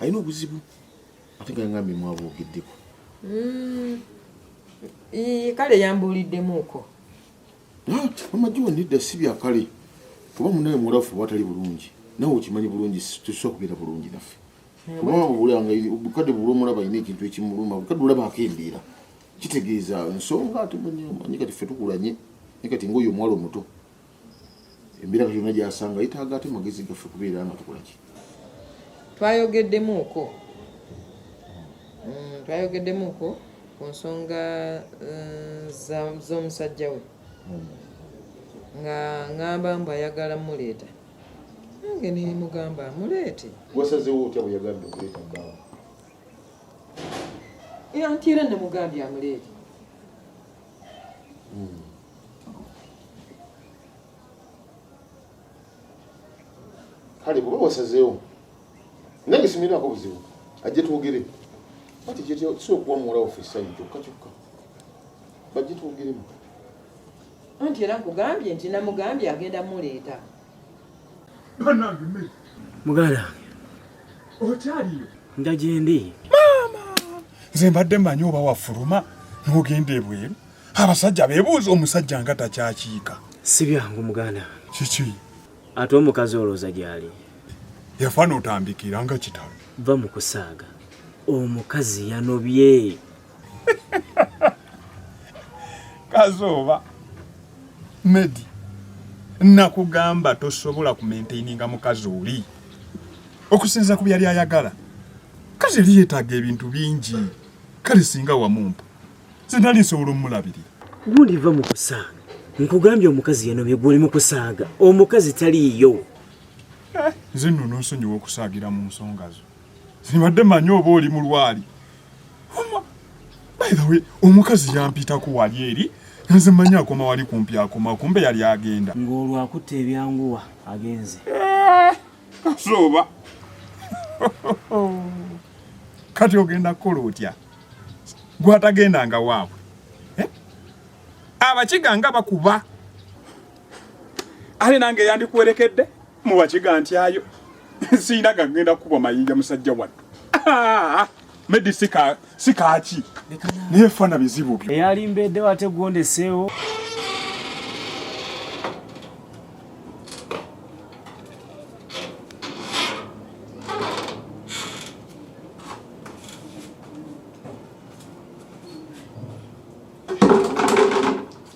alina obuzibu ate nga ngambe mwabwogeddeko mm. kale yambuuliddemuuko ah, mama jiwa nedda si bya kale kuba munaye mulafu oba atali bulungi nawe okimanyi bulungi tusobola kubeera bulungi naffe kubabulanga bukadde bula omulaba alina ekintu ekimuluma bukadde olaba akendeera kitegeeza nsonga ate manyi kati ffe tukulanye naye kati ngaoyo omuwala omuto embeera yonna gyasanga yetaaga ate magezi gaffe kubeera nga tukolaki twayogeddemuuko mm, twayogeddemuuko ku nsonga eh, z'omusajja we hmm. nga ngamba mbu ayagala muleeta nange nemugamba amuleete wasazewo otya bweyagambye okuleeta bbaawa anti era nemugambye amuleete mm. kale kuba wasazeewo nange simirako buzibu ajje twogere kati kyetusobola okuwa muwala waffe essanyu kyokka kyokka bajje twogeremu anti era nkugambye nti namugambye agenda muleeta Banange me. Muganda. Okyaliyo. Nda gyendi. Maama. Nze mbadde manyi oba wafuluma n'ogenda ebweru. Abasajja beebuuza omusajja nga takyakiika. Si byangu muganda. Kiki? Ate omukazi olooza gy'ali. Yafa n'otandikira nga kitalo. Va mu kusaaga. Omukazi yanobye. kazooba medi nakugamba tosobola kumentaininga mukazi oli okusinza ku byali ayagala kazi eri yetaaga ebintu bingi kale singa wamumpa zinali nsobola omulabirira guliva mu kusaaga nkugambye omukazi yanobye gwoli mu kusaaga omukazi taliiyo nze nno nonsonyiwa okusaagira mu nsonga zo sibadde manyi oba oli mulwali bayirawe omukazi yampitako wali eri nze manyi akoma wali kumpi akoma kumbe yali agenda ng'olwo akutte ebyanguwa agenze eh, kasooba kati ogenda kukola otya gwatagendanga waabwe eh? abakiga nga bakuba ale nange yandikuwerekedde mubakiga ntyayo siyina gagenda kukubwa mayinja musajja wattu ah! medi sikaaki naye fana bizibu byo eyalimbeeddewo ate gwondeseewo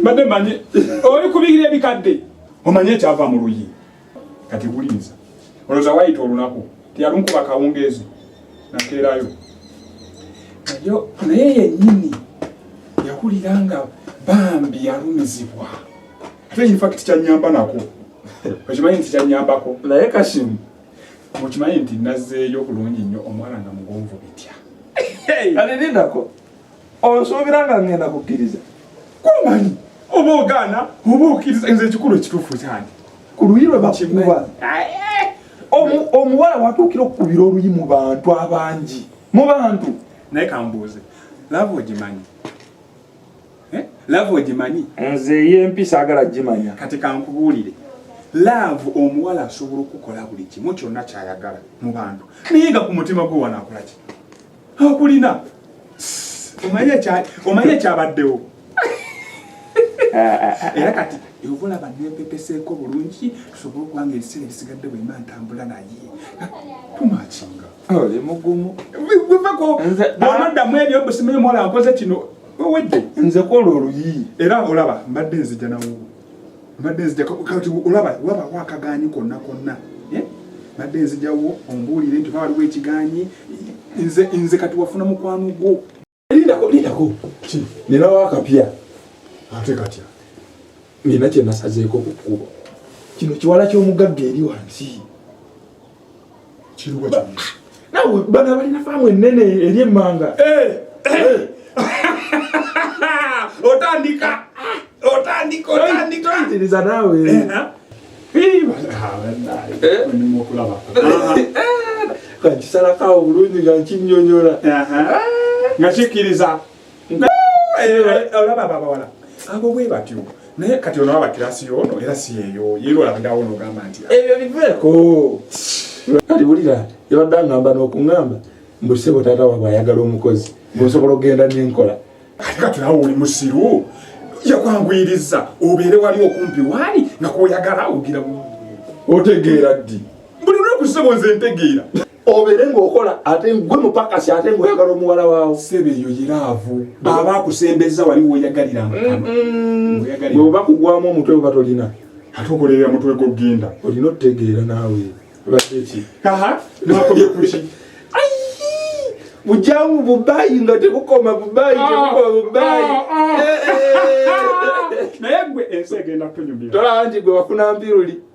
mbadde manyi oli kubigira ebikadde omanye ekyava mu luyi kati gulinza olowooza wayita olunaku teyalunkuba kawungeezi nakeerayo nayo naye yennyini yakulira nga bambi yalumizibwa ate infact kyanyamba nako okimanyi nti kyanyambako naye kashimu okimanyi nti nazeeyo bulungi nnyo omwana nga mugonvu bitya alinindako onsuubira nga ngenda kukkiriza kumanyi oba ogaana oba okkiriza nze ekikulu ekituufu kyange ku luyi lwe bakuba omuwala watuukira okukubira oluyi mu bantu abangi mu bantu naye kambuuze lava ogimanyi eh? lava ogimanyi nze ey'empisa agala gimanya kati kankubuulire laavu omuwala asobola okukola buli kimu kyonna kyayagala mu bantu naye nga ku mutima gwe wanaakolaki okulina omanye ekyabaddewo era kati ova olaba nempepeseeko bulungi tusobole okuba nga ebiseera ebisigadde bwemba ntambula naye tumakinga oli mugumu wevako bwonoddamu ebyo busimanyi omuwala nkoze kino owedde nze kola oluyi era olaba mbadde nzija nawo mbadde nzijakati olaba waba wakaganyi konna konna eh? mbadde nzijawo ombuulire nti oba waliwo ekiganyi nze nze kati wafuna mukwano gwo lindako lindako ki ninawo akapya ate katya nina kyenasazeeko ku kkubo kino kiwala ky'omugagga eri wansi kiruwa kino nawe bana balina faamu ennene eri emmanga eh, eh. otandika otandika otandika oyitiriza naawe okulaba kankisalako awo bulungi nga nkinyonyola nga kikkiriza olaba ababawala abo bwe batyo naye kati ono aba kirasi yono era si yeyo yeyo olabandawo nogamba nti ebyo biveeko kati wulira yabadde angamba n'okungamba mbu sebo taata wabwe ayagala omukozi gwosobola okugenda nenkola ate kati nawe oli musiru yakwanguyiriza obeere wali okumpi waali nga kwoyagala ogira otegeera ddi buli lunaku ssebo nze ntegeera obere ngaokola ate gwe mupakasi ate ngaoyagala omuwala waawo sebe eyo yiraavu aba akusembeza wali woyagalira bweoba kugwamu omutwe oba tolina ate okolerera mutwe gogenda olina otutegeera naawe baeki aha nakomye kuki bujamu bubayi nga tebukoma bubayi ah, tebukoma bubayi ah, ah. Eh, eh, eh, naye gwe ensi egenda kunyumira tola nti gwe wafuna mpiruli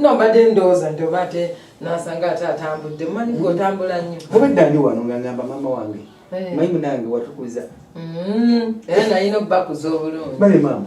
nobadde ndowooza nti oba ate nasanga ate atambudde manyi gwe otambula nnyo obadde ndi wano nga ngamba maama wange eh. mayi munange watukuza mm-hmm. era nalina okubakuza obulungi bale maama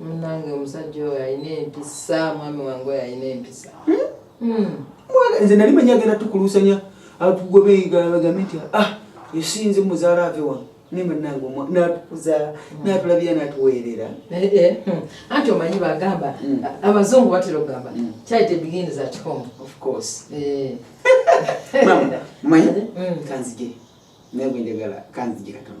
munange omusajja oyo alina empisa mwami wange oyo alina empisa hmm? Hmm. mwana nze nali manyi agenda tukuluusanya atugobeigabagambe nti ah esinze muzaala ave wano naye munange natukuza hmm. natulabira natuweerera eh, eh, anti omanyi bagamba abazungu batera okugamba charity begins at home of course eh. mama manyi kanzije naye bwenjagala kanzije katono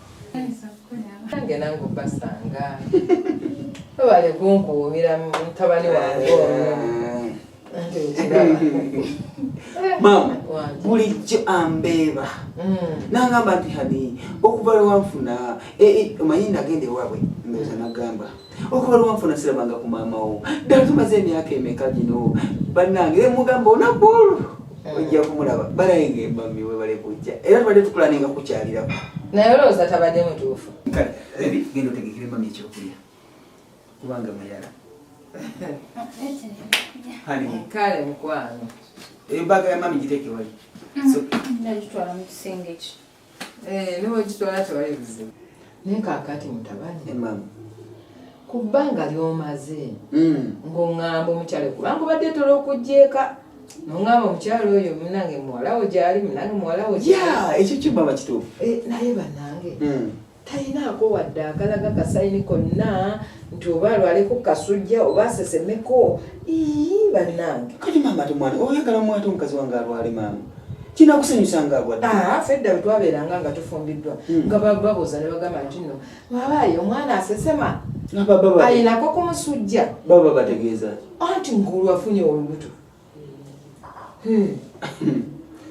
nange nange obasanga babale kunkuumira mutabani wange maama bulijjo ambeeba mm. nangamba nti hani okuva lwewanfuna eh, eh, omanyi nagenda ewaabwe mbeeza nagamba okuba luwanfu nasirabanga ku maama wo ddala tumaze emyaka emeka gino bannange e mugamba onaku olwo eh. ojja kumulaba balaye nga emami webale kujja era tubadde tukula nenga kukyalirako naye olowooza tabadde mutuufu kale ebi genda otegekere mami ekyokulya kubanga mayala kale mukwano ebaga ya mami giteekewali mm. nagitwala mu kisenge ekyo Eh, newekitwala tewali buzibu naye kakati mutabani eh, ku bbanga lyomaze hmm. ng'oŋŋamba omukyalo kubanga obadde tola okugyeeka noŋŋamba omukyalo oyo munange muwalawo gyali munange muwalawo ekyo kimama kituufu eh, naye banange hmm. talinaako wadde akalaga kasayini konna nti oba alwaleko kasujja oba asesemeko ii bannange kati maama te mwana oyagala mwate omukazi wange alwale maama kinakusanyusa nga abwadde ah, fedda bwe twabeeranga nga tufumbiddwa hmm. nga bababuuza ne bagamba nti no babaayi omwana asesema ayinako kumusujja baba bategeeza anti ngulu afunye olubuto Hmm.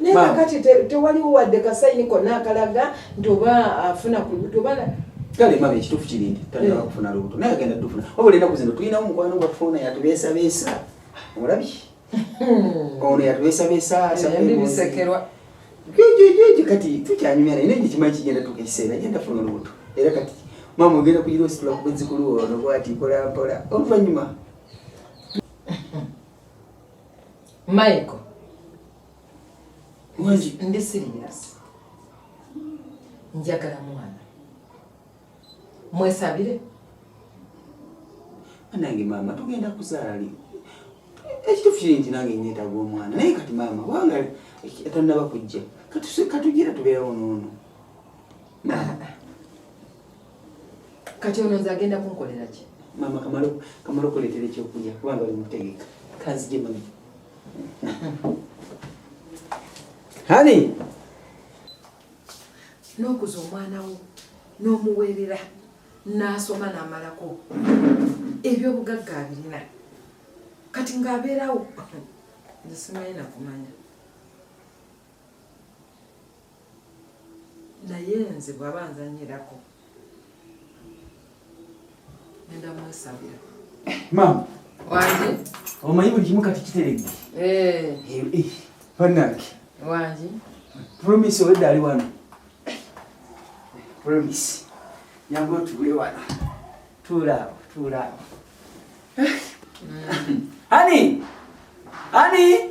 naye kakati tewaliwo wadde kasayini konna akalaga nti oba afuna ku lubuto oba kale mama ekituufu kiri nti tandika hmm. kufuna lubuto naye agenda tufuna wabula enaku zino tulinawo mukwano gwafuna yatubeesabeesa omulabi hmm. ono yatubeesabeesa bisekerwa jojojojo kati tukyanyumya naye naye kyekimanyi kigenda tuka ekiseera genda funa olubuto era kati mama ogenda kuyira ositula kubwezikulu ono bwati mpolampola oluvannyuma Michael. Wangi. Ndi serious. Njagala mwana. Mwesabire. Anange mama tugenda kuzaala li. Ekitufu kiri nti nange nneetaaga omwana naye kati maama kubanga tannaba kujja katugira tubeerawo noono maama kati ono nze agenda kunkolera ki maama kamalo kamalo kuleetera ekyokulya kubanga oli mutegeka kanzije mami hani n'okuza omwana wo n'omuweerera n'asoma n'amalako ebyobugagga abirina kati ng'abeerawo nze simanyi nakumanya naye nze bwaba nzanyirako enda mwesabira maama wange omanyi buli kimu kati kiteredde eh. eh, eh, banange wange promise owedde ali wano promise yangu otuule wano tuulaawo tuulaawo mm. hani hani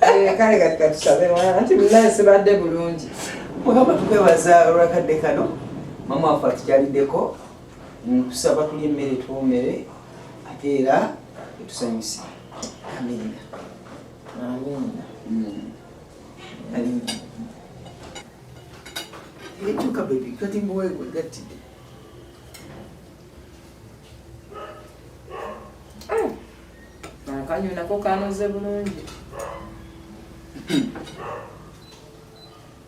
Eh, kale kati katusabe anti munaye sibadde bulungi mugamba tukwebaza olwakadde kano mama wafe atukyaliddeko nkusaba tuli emmere twomere ate era etusanyuse amina amina mm. ekyuka bebi kati mbuwe gwegattidde Akanyo nako kanoze bulungi.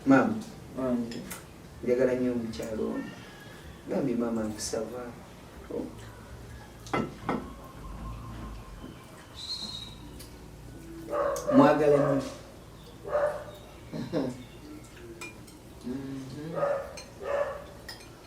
Maama. Wange. Njagala nnyo omukyalo ono. Bambi maama nkusaba. Oh. Mwagala nnyo. Mm-hmm.